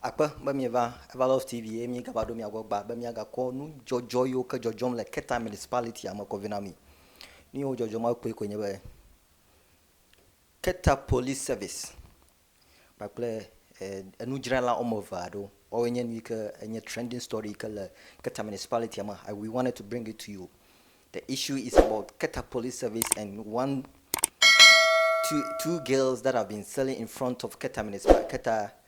Akpe be mieva Evalove TV eye míegava ɖo mia gbɔ gbaa be míagakɔ nudzɔdzɔ yiwo ke dzɔdzɔm le Keta Municipality-a me kɔ vɛ na mi. Nu yiwo dzɔdzɔ ma kpɔe koe nye be Keta Police Service kpakple enudzrala wɔme eve aɖewo. Woawoe nye nu yi ke enye trending story yi ke le Keta Municipality-a me. I, we wanted to bring it to you. The issue is about Keta Police Service and one, two, two girls that have been selling in front of Keta Municipal, Keta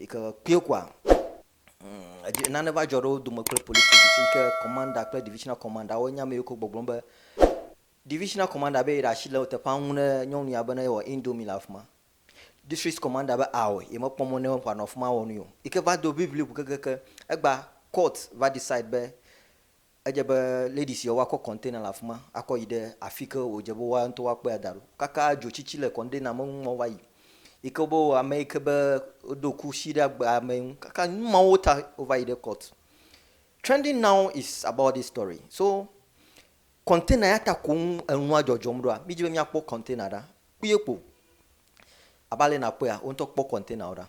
Yi ke kpuie koa, eɖe, nane va dzɔ ɖe wo dome kple police service yi ke commander kple divisional commander wo nya me yi ke wo gbɔgblɔm be divisional commander be yeɖe asi le teƒea ŋu ne nyɔnu ya be ne yewɔ indomie le afima. District commander be aɔe ye mekpɔ mɔ ne wòanɔ afima awɔ nui o. Yi ke va do ŋiŋli ŋu kekeake egba court va decide be Edze be lady siawo akɔ container le afima akɔ yi ɖe afike wòdze be woa ŋutɔ woakpɔe ada ɖo. Kaka dzotsitsi le container me ŋmɔ va yi yi ke be wɔ ame yi ke be woɖo kusi ɖe agbea me ŋu. Kaka numawo ta wova yi ɖe court. Trending now is about this story. So container ya ta koŋ enua dzɔdzɔm ɖoa? Mí dzi be mía kpɔ container ɖa kpuie kpo. Abe ale yi nakpɔea, wo ŋutɔ kpɔ container wo ɖa.